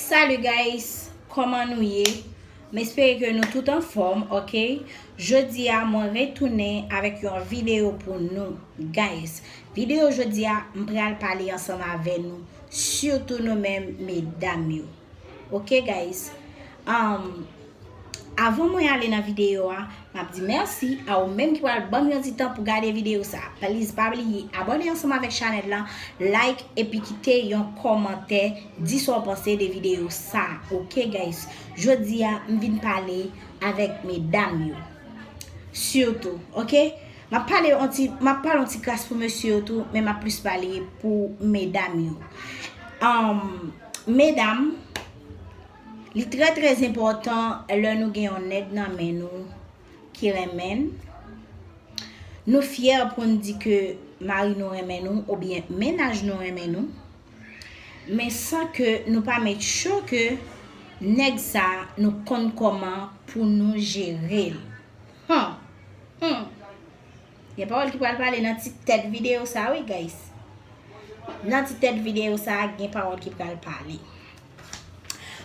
Salut guys Koman nou ye M espere ke nou tout anfòm ok Jodi a mwen retounen avèk yon video pou nou Guys video jodi a m pral pale ansanm avè nou Sitou nou menm medam yo Ok guys Am Avan mwen ale nan videyo a, m ap di mèsi a ou menm ki pral banm yon ti tan pou gade videyo sa. Pliz pa bliye abòne ansanm avèk chanèl lan, like epi kite yon kòmantè di sa w panse de videyo sa ok guys. Jodi a m vin pale avèk medam yo sitou ok. M ap pale yon ti m ap pale yon ti kras pou mesye yo tou men m ap plis pale pou medam yo. Medam. Li trè trè enpòtan lè nou gen yon nèg nan men nou ki renmen n, nou fyè pou n di ke mari nou renmen nou oubyen mennaj nou renmen nou, men san ke nou pa met cho ke nèg sa nou konn kòman pou nou jere l. Hum! Hum! Gen pawòl ki pral pale nan ti tèt videyo sa wi guys. Nan ti tèt videyo sa gen pawòl ki pral pale.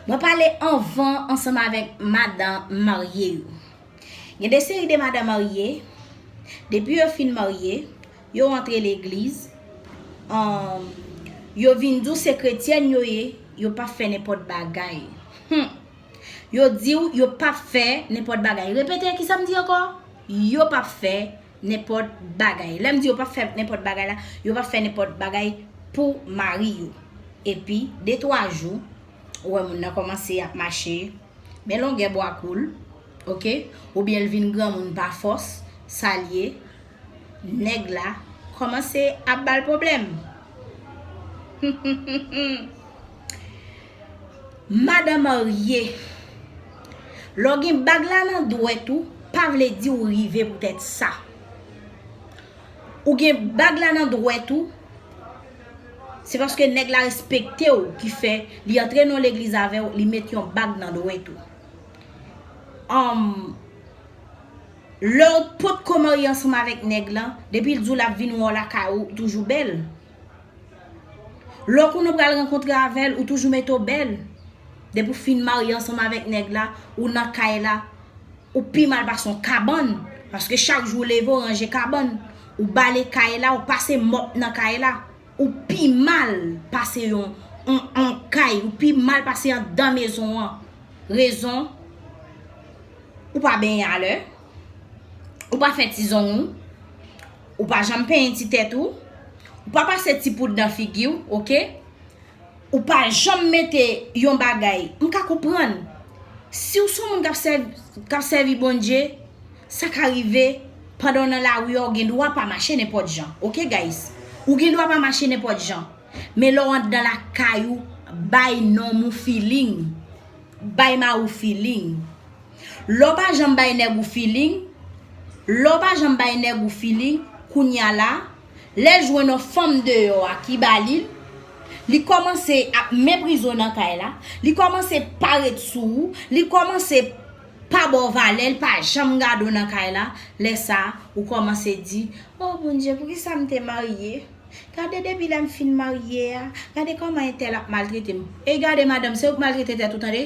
Mwen pale anvan ansanm avèk madan marye yo. Gen de seri de madan marye, depi yo fin marye, yo antre legliz, yo vin di w se kretyèn yo ye, yo pa fè nenpòt bagay. Hum! Yo diw yo pap fè nenpòt bagay. Repete ki sam di ankò? Yo pap fè nenpòt bagay. Lèm di yo pap fè nenpòt bagay la, yo pap fè nenpòt bagay pou mari yo. Epi de twa jou, ou wè moun nan kòmanse ap mache men longè bwa koul, ok, oubyen l vin granmoun pa fòs, sa l ye? Nèg la kòmanse ap bal pwoblèm. Hum hum hum hum. Madan marye. Lè w gen bag la nan dwèt ou, pa vle di ou rive poutèt sa. Ou gen bag la nan dwèt ou, se paske nèg la respekte w ki fè li antre nan yon legliz avè w, li met yon bag nan dwèt ou. Lè w potko marye ansanm avèk nèg lan, depi l di w l ap vin wè w lakay ou, ou toujou bèl. Lè w konnen w pral rankontre avè l, ou toujou mete w bèl. Depi w fin marye ansanm avèk nèg la, ou nan kay la, ou pi mal pase yon kabann. Paske chak jou w leve w ranje kabann. Ou bale kay la, ou pase mòp nan kay la. Ou pi mal pase yon kay, ou pi mal pase yon dan mezon an. Rezon, ou pa benyen alè, ou pa fè ti zong ou, Ou pa janm penyen ti tèt ou. Ou pa pase ti poud nan figi ou, ok. Ou pa janm mete yon bagay. M ka konprann. Si w son moun k ap sèvi Bondye, sa ka rive pandan w nan lari a ou gen dwa pa mache nenpòt jan. Ok guys. Ou gen dwa pa mache nenpòt jan. Men lè w andan lakay ou, bay nonm ou feeling. Bay ma ou feeling Lè w pa janm bay nèg ou feeling Lè w pa janm bay nèg ou feeling Kounya la Lè l jwenn on fanm deyò a ki ba li l Li kòmanse ap meprize w nan kay la Li kòmanse pa ret sou ou Li kòmanse pa ba w valè L pa janm gade w nan kay la Lè sa ou kòmanse di Oh Bondye poukisa m te marye Gade depi lèm fin marye a, gade kòman entèl ap maltrete m. Ey gade madanm se ou k maltrete tèt ou tande.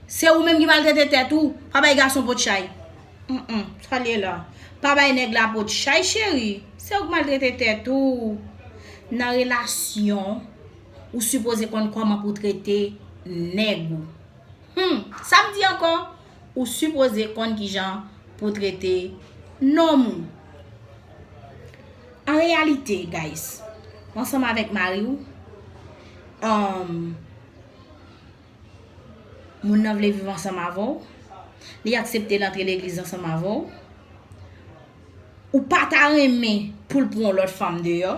Se ou menm ki maltrete tèt ou, pa bay gason pot chay. Humm sa l ye la. Pa bay nèg la pot chay cheri, se ou k maltrete tèt ou. Nan relasyon, ou sipoze konn kòman pou trete nèg ou. Humm sa m di ankò, ou sipoze konn kijan pou trete nonm ou. An reyalite guys, ou ansanm avèk mari ou, umm, moun nan vle viv ansanm avè w, li aksepte l antre legliz ansanm avè w, ou pa ta renmen pou l pran yon lòt fanm deyò.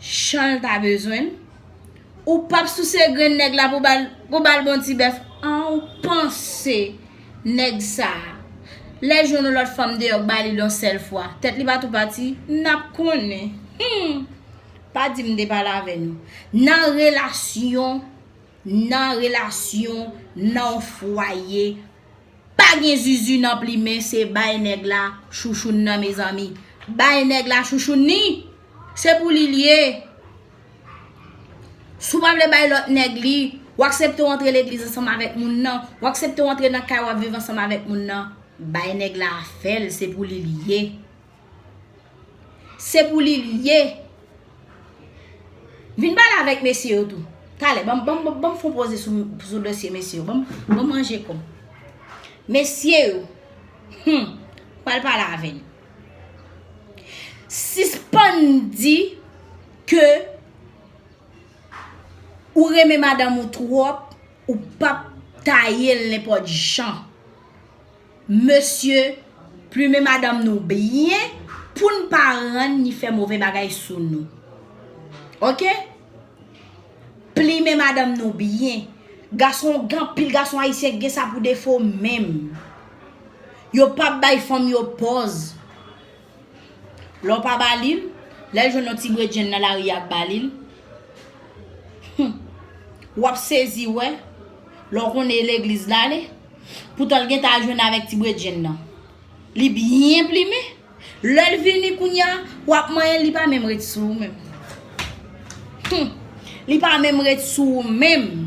Chanl ta bezwenl Ou pap souse grenn nèg la pou bal bon ti bèf an ou panse nèg sa lè jwenn yon lòt fanm deyò k balil yon sèl fwa tèt li pa tou pati nap konnen humm pa dim m te pale avè nou nan relasyon nan relasyon nan fwaye. Pa gen zuzu nan plimen se bay nèg la chouchoun nan mezanmi bay nèg la chouchoun ni se pou li li ye si w pa vle bay lòt nèg li w aksepte w antre legliz ansanm avèk moun nan w aksepte w antre nan kay w ap viv ansanm avèk moun nan bay nèg la afè l se pou li li ye. Se pou li li ye. Vin pale avèk mesye yo tou. Talè, banm banm banm fon poze sou sou dosye mesye yo. Banm banm manje kòm. Mesye yo. Hum. Pral pale avè li. Sispann di ke ou renmen madanm ou twòp, ou pap taye l nenpòt jan. Mesye plumen madanm nou byen poun pa rann ni fè move bagay sou nou ok plimen madanm nou byen gason anpil gason ayisyen gen sa pou defo menm yo pap bay fanm yo pòz. Lè w pa ba li l, lè l jwenn yon ti bredjenn nan lari a k ba li l, humm, w ap sezi wè, lè w konnen e legliz l ale, poutan l gentan al jwenn avèk ti bredjenn nan. Li byen plimen, lè l vini kounye a, w ap manyen l li pa menm ret sou ou menm. Humm li pa menm ret sou ou menm.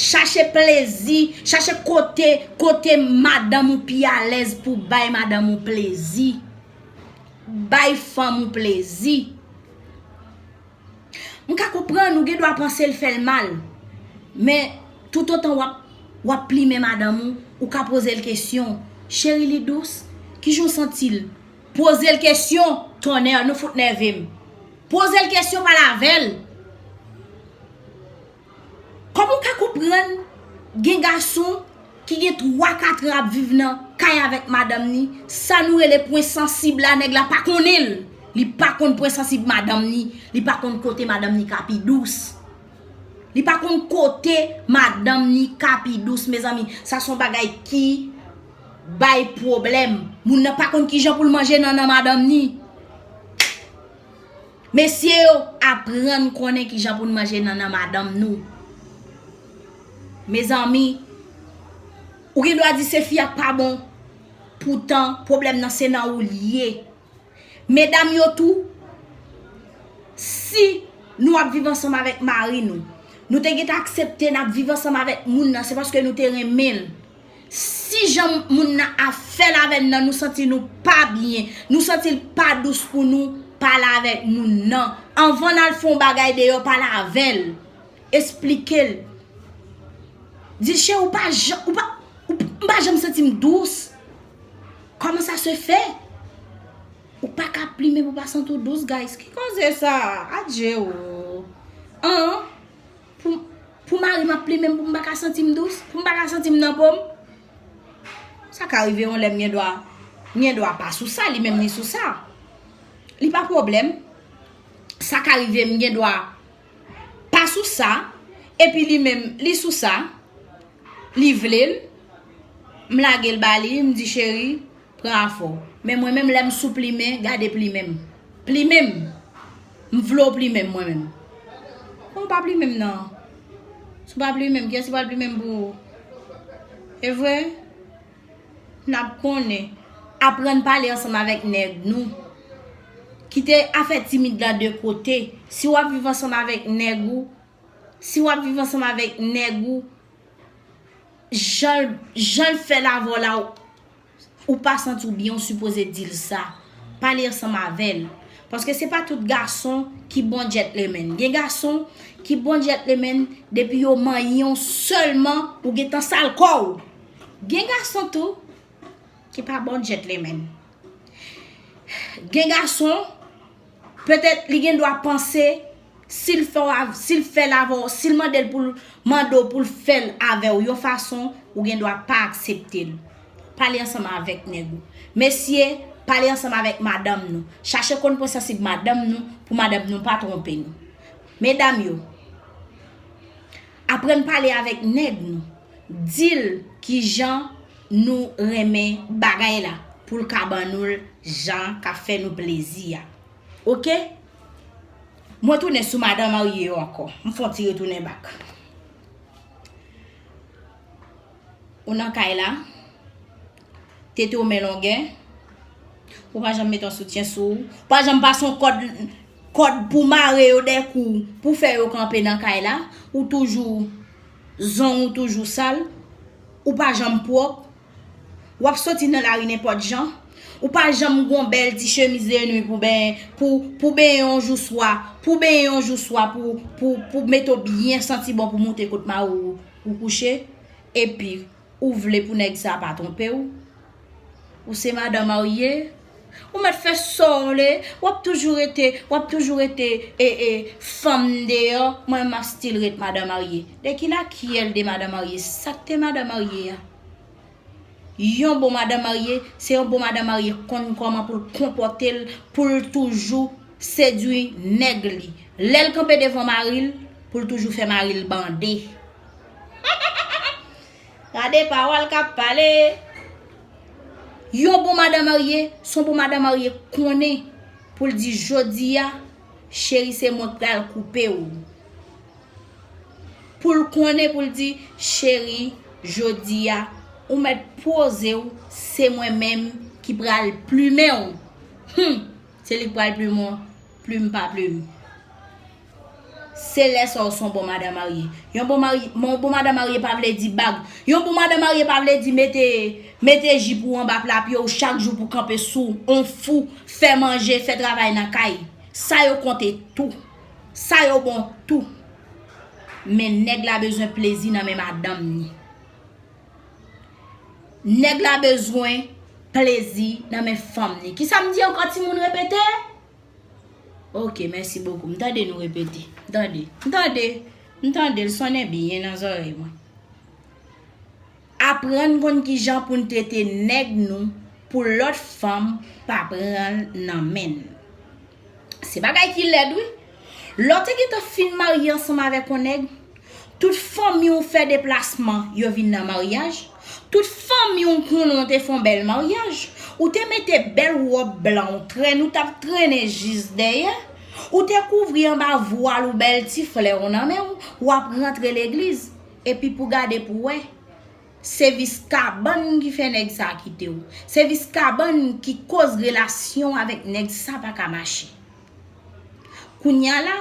Chache plezi, chache kote, kote madanm ou pi alèz pou w bay madanm ou plezi. Bay fanm ou plezi. M ka konprann ou gen dwa panse l fè l mal. Men toutotan w ap, w ap plimen madanm ou, ou ka poze l kesyon, cheri li dous? Kijan w santi l? Pozel kesyon tonnerr nou fout nèvem pozel kesyon pale avèl Koman ou ka konprann gen gason ki gen 3 4 an ap viv nan Kay avèk madanm ni sa nou rele pwen sansib la nèg la pa konnenl li pa konn pwen sansib madanm ni li pa konn kote madanm ni ka pi dous li pa konn kote madanm ni ka pi dous mezanmi sa son bagay ki Bay pwoblèm. Moun nan pa konn kijan poul manje nannan madanm ni. Mesye yo aprann konnen kijan poun manje nannan madanm nou. Mezanmi ou gen dwa di se fi a pa bon poutan pwoblèm nan se nan oul ye. Medam yo tou si nou ap viv ansanm avèk mari nou. Nou te gen ta aksepte nap viv ansanm avèk moun nan se paske nou te renmenl. Si jan moun nan ap fèl avèn nan nou santi nou pa byen, nou santil pa dous pou nou, pale avèk moun nan. Anvan nal fon bagay deyò pale avèl. Esplikel. Dil cheri ou pa janm ou pa m pa janm santim dous. Kòman sa se fè? Ou pa ka plimen pou pa santi w dous guys. Ki koze sa? Adje o. An. Pou mari m ap plimen m pou m pa ka santi m dous? Pou m pa ka santi m nan po m? Sa ka rive yon lè m gen dwa m gen dwa pa sou sa li menm li sou sa. Li pa pwoblèm. Sa ka rive m gen dwa pa sou sa epi li menm li sou sa. Li vle l, m lage l ba li, m di cheri. Pran a fò. Men mwen menm lè m sou plimen, gade plimen m. Plimen m! M vle w plimen m mwen menm. Ou pa plimen m nan. Si w pa plimen m, kiyès ki pral plimen m pou ou? E vre? N ap konnen. Aprann pale ansanm avèk nèg nou. Kite afè timid la de kote. Si w ap viv ansanm avèk nèg ou, si w ap viv ansanm avèk nèg ou, jan l fè l avè w la ou. Ou pa santi w byen ou sipoze di l sa. Pale ansanm avè l. Paske se pa tout gason ki bon gentleman. Gen gason ki bon gentleman depi yo manyen w sèlman ou gentan sal kò w. Gen gason tou ki pa bon gentleman. Gen gason. Petèt li gendwa panse si l fè l avè w, si l mande l pou l mande w pou l fè l avè w yon fason, ou gendwa pa aksepte l. Pale ansanm avèk nèg ou. Mesye, pale ansanm avèk madanm nou. Chache konn pwen sansib madanm nou pou madanm nou pa twonpe nou. Medam yo. Aprann pale avèk nèg nou. Di l ki jan nou renmen bagay la pou l ka ban nou l jan k ap fè nou plezi a. Ok? Mwen tounen sou madan marye yo ankò. M fè yon ti retounen bak. Ou nan kay la, tete w men longè, ou pa janm met yon soutyen sou ou, ou pa janm pase yon kòd, kòd pou w mare yo dè kou w, pou w fè yo kanpe nan kay la, ou toujou, zong ou toujou sal, ou pa janm pwòp, w ap soti nan lari nenpòt jan, ou pa janm gen yon bèl ti chemiz de nwi pou benyen, pou benyen yon jou swa, pou benyen yon jou swa pou mete w byen santi bon pou moute kot mari w. Ou kouche, epi ou vle pou nèg sa pa twonpe w? Ou se madan marye, ou mèt fè sa w vle, w ap toujou rete, w ap toujou rete e e fanm deyò, mwen menm m ap stil ret madan marye. Dè ki lakyèl de madan marye, sa k te madan marye a? Yon bon madan marye, se yon bon madan marye konn kòman pou l konpòte l, pou l toujou sedui nèg li. Lè l kanpe devan mari l, pou l toujou fè mari l bande. Gade pawòl k ap pale! Yon bon madan marye, se yon bon madan marye konnen pou l di jodi a, cheri se mwen k pral koupe ou. Pou l konnen pou l di, Cheri, jodi a, ou mèt poze w, se mwen menm ki pral plimen w. Hum! Se li k pral plimen w, plim pa plim. Se lè sa w s on bon madan marye. Yon bon mari, yon bon madan marye pa vle di bag. Yon bon madan marye pa vle di mete, mete jip ou anba pla pye w chak jou pou kanpe sou on fou, fè manje, fè travay nan kay. Sa yo konte tou. Sa yo bon tou. Men nèg la bezwen plezi nan men madanm ni. Nèg la bezwen plezi nan men fanm ni. Ki sa m di ankò ti moun repete? Ok, mèsi bokou. M tande nou repete. M tande. M tande. M tande. L sonnen byen nan zorèy mwen. Aprann konn kijan poun trete nèg nou pou lòt fanm pa pranl nan menn. Se bagay ki lèd wi. Lè w te gentan fin marye ansanm avèk yon nèg, tout fanmi w fè deplasman yo vin nan maryaj, tout fanmi w konnen w te fè yon bèl maryaj, ou te mete bèl wòb blan w trèn ou tap trennen jis dèyè, ou te kouvri anba vwal ou bèl ti flè w nan men w, wap rantre legliz. Epi pou gade pou wè, se vis kabann ki fè nèg sa a kite w. Se vis kabann ki koz relasyon w avèk nèg sa pa ka mache. Kounya la,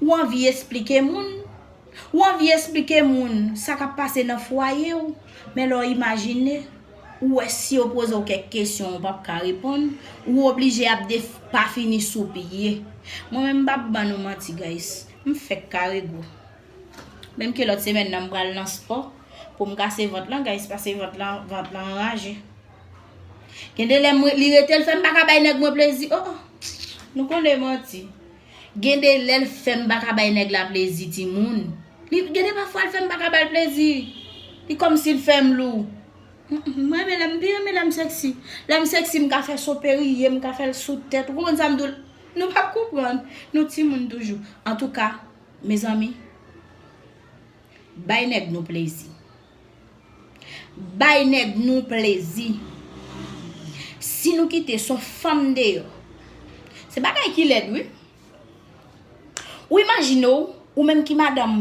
ou anvi esplike moun, ou anvi esplike moun sa k ap pase nan fwaye w, men lè w imajine, ou wè si yo poze w kèk kesyon ou pa p ka reponn, ou oblije ap depafini sou pye. Mwen menm m pa p ban nou manti guys, m fèk kare gou. Menm ke lòt semèn nan m pral nan spò pou m kase vant lan guys pase vant lan vant lan anraje. Gen de lè mwen li rete l fè m pa ka bay nèg mwen plezi oh nou konnen manti. Gen de lè l fè m pa ka bay nèg la plezi timoun. Li gen de pafwa l fè m pa ka ba l plezi. Li kòmsi l fè m lou. M renmen lè m pi renmen lè m sèksi. Lè m sèksi m ka fè soperiye m ka fè l sou tèt ou konprann sa m di w la. Nou pap konprann nou timoun toujou. Antouka. Mezanmi Bay nèg nou plezi Bay nèg nou plezi Si nou kite son fanm deyò Se bagay ki lèd wi Ou imajine w Ou menm ki madanm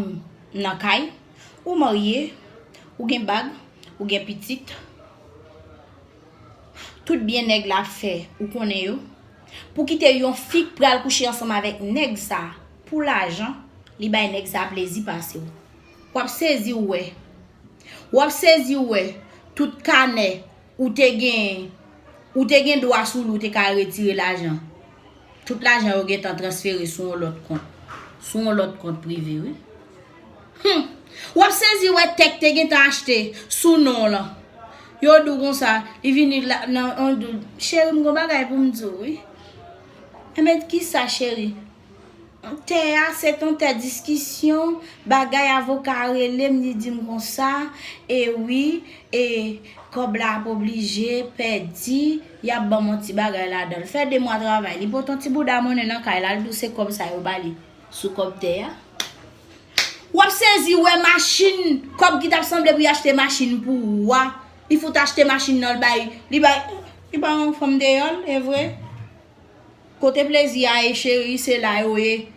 nan kay Ou marye Ou gen bag Ou gen pitit Tout byen nèg la fè Ou konnen yo Pou kite yon fi k pral kouche ansanm avèk nèg sa. Pou lajan li bay nèg sa plezi pasew. Wap sezi ou wè. Wap sezi ou wè tout kanè ou te gen ou te gen dwa sou li ou te ka retire lajan. Tout lajan yo gentan transfere sou yon lòt kont. Sou yon lòt kont prive wi. Hum! Wap sezi ou wè tè k te gentan achte sou non w lan. Yo di w konsa li vini la nan yon di w cheri m gon bagay pou m di w wi. Enben kisa cheri? Tè a se ton tè diskisyon, bagay avoka a rele m li di m konsa, e wi e kòb la ap oblije pèdi, y ap ban m on ti bagay ladan l. Fè de mwa travay, li pot on ti bouda monnen nan kay la, li di w se kòb sa yo ba li sou kòb tè a. W ap sezi wè machin, kòb ki t ap sanble pou y achte machin pou ou a, li fout achte machin nan l bay, li bay, li bay on fanm deyò l, e vre. Kote plezi a ye cheri se la yo ye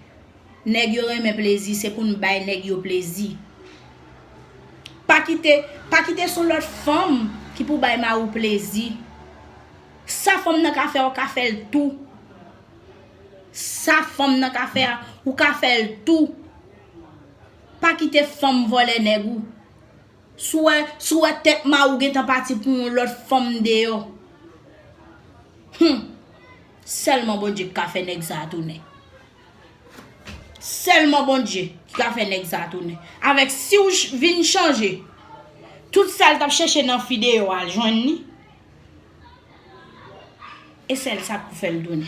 nèg yo renmen plezi se pou nou bay nèg yo plezi pa kite pa kite son lòt fanm ki pou bay mariw plezi sa fanm nan ka fè ou ka fèl tou sa fanm nan ka fè a ou ka fèl tou pa kite fanm vòlè nèg ou. Souwè souwè tèt mariw gentan pati pou yon lòt fanm deyò humm sèlman Bondye ki ka fè nèg sa tounen sèlman Bondye ki ka fè nèg sa tounen avèk siw vin chanje tout sal tap chèche nan fi deyò al jwenn li esèl sa ki pou fèl tounen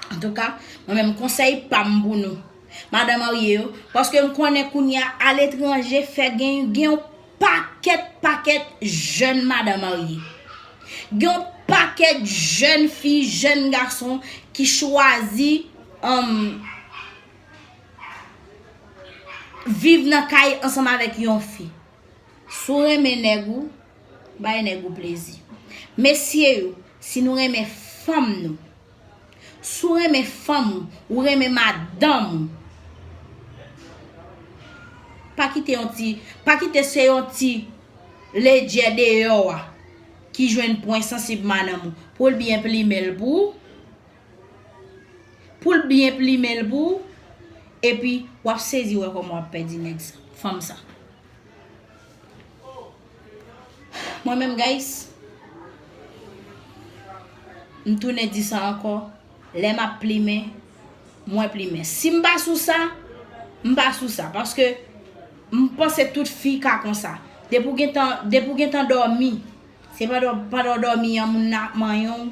Antouka, mwen menm konsèy pam pou nou Madan marye yo, paske m konnen kounya a letranje fè gen yon pakèt pakèt jèn madan marye. Gen yon pakèt jèn fi, jèn gason ki chwazi viv nan kay ansanm avèk yon fi. Si w renmen nèg ou, bay nèg ou plezi. Mesye yo, si nou renmen fanm nou. Si w renmen fanm ou, ou renmen madanm ou, pa kite yon ti, pa kite se yon ti ledjè deyò a ki jwenn pwen sansib madanm ou pou l byen plimen l pou ou, pou l byen plimen l pou ou, epi w ap sezi wè kòman w ap pèdi nèg sa, fanm sa. Mwen menm guys M tounen di sa ankò Lè map plimen Mwen plimen Sim pa sou sa M pa sou sa Paske M panse tout fi ka konsa Depi w gentan Depi w gentan dòmi Se pandan pandan w dòmi an moun nan ap manyen w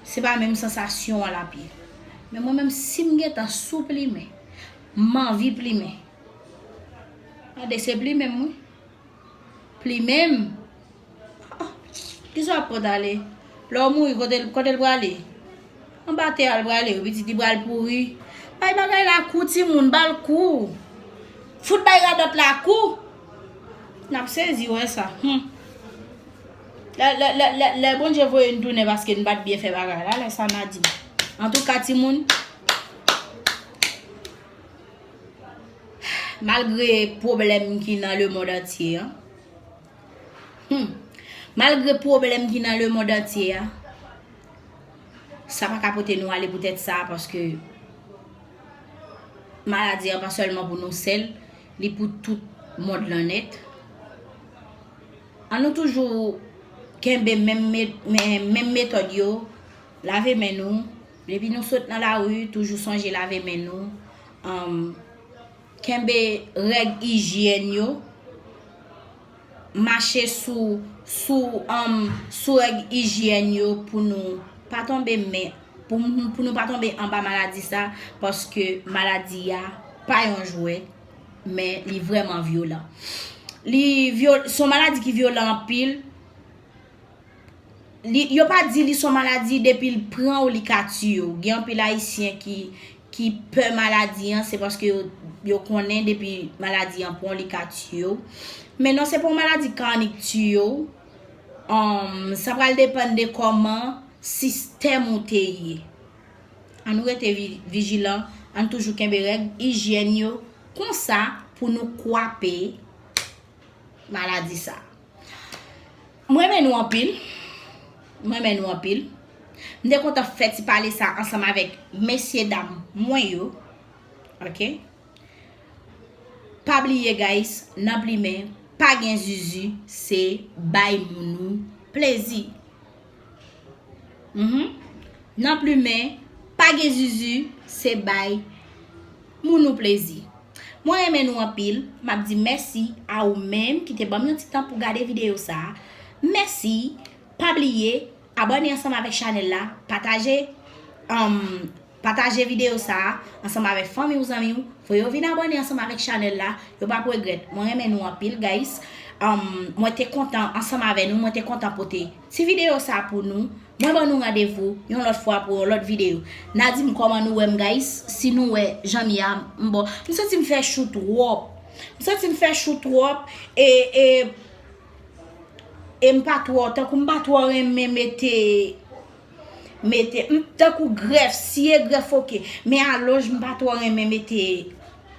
Se pa menm sansasyon an lap ye Men mwen menm sim gentan sou plimen M anvi plimen Tande se plimen m wi Plimen m. Kisa wap pot ale? Lè w mouri kote l kote l prale? Anba tè a l prale wi pitit li pral pouri. Bay bagay la kou timoun ba l kou. Fout bay radòt la kou. N ap sezi wè sa hum. Lè Bondye voye n tounen paske n pat byen fè bagay la lè sa n a di. Antouka timoun. Malgre pwoblèm ki nan le mond antye a Humm Malgre pwoblèm ki nan le mond antye a Sa pa ka pote nou ale poutèt sa paske Maladi an pa sèlman pou nou sèl Li pou tout mond lan nèt An nou toujou kenbe menm metòd yo Lave men nou Depi nou sot nan lari, toujou sonje lave men nou, kenbe règ ijyèn yo, mache sou règ ijyèn yo pou nou pa tonbe men, pou nou pa tonbe anba maladi sa, paske maladi a pa yon jwèt, men li vreman vyolan. Li son maladi ki vyolan anpil. Li yo pa di li son maladi depil pran w li ka tiye w. Gen anpil ayisyen ki ki pè maladi an se paske yo yo konnen depi maladi an pran w li ka tiye w. Men non se pa yon maladi karnik tiye w. Umm sa pral depann de kòman sistèm ou te ye. An nou rete vijilan, ann toujou kenbe règ ijyèn yo konsa pou nou kwape maladi sa. M renmen nou anpil M renmen nou anpil M te kontan fè ti pale sa ansanm avèk mesye dam mwen yo Ok Pa bliye guys nan plimen pa gen zuzu se bay moun ou plezi. Nan plumen pa gen zuzu se bay moun ou plezi. Mwen renmen nou anpil, m ap di mèsi a ou menm ki te banm yon ti tan pou gade videyo sa. Mèsi, pa bliye abòne ansanm avèk chanèl la, pataje. Pataje video sa a ansanm avèk fanmi ou zanmi ou pou yo vin abòne ansanm avèk chanèl la yo pap regrèt mwen renmen nou anpil guys mwen te kontan ansanm avè nou mwen te kontan pote ti video sa pou nou mwen ban nou randevou yon lòt fwa pou yon lòt video na dim kòman nou wèm guys si nou wè janm ye a m bon m santi m fè chou twòp m santi m fè chou twòp e e e m pa twò tankou m pa twò renmen mete. mete m tankou grèf siye grèf ok men alonj m pa twò renmen mete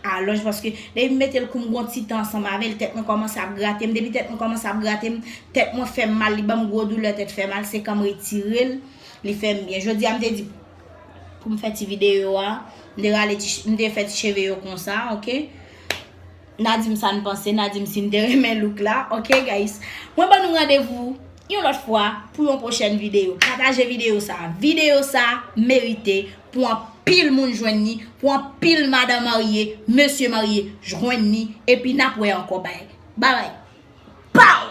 alonj paske depi m mete l kou m gon ti tan ansanm avèl tèt mwen kòmanse ap grate m depi tèt mwen kòmanse ap grate m tèt mwen fè m mal li ban m gwo doulè tèt fè mal se kan m retire l li fè m byen jodi a m te di pou m fè ti videyo a m te rale m te fè ti cheve yo konsa ok. Na dim sa n panse, na dim si n te renmen look la ok guys Mwen ban nou randevou yon lòt fwa pou yon pwochèn videyo Pataje videyo sa a Videyo sa a merite pou anpil moun jwenn ni Pou anpil madan marye, mesye marye jwenn ni Epi n ap wè ankò bye Bye bye Pow!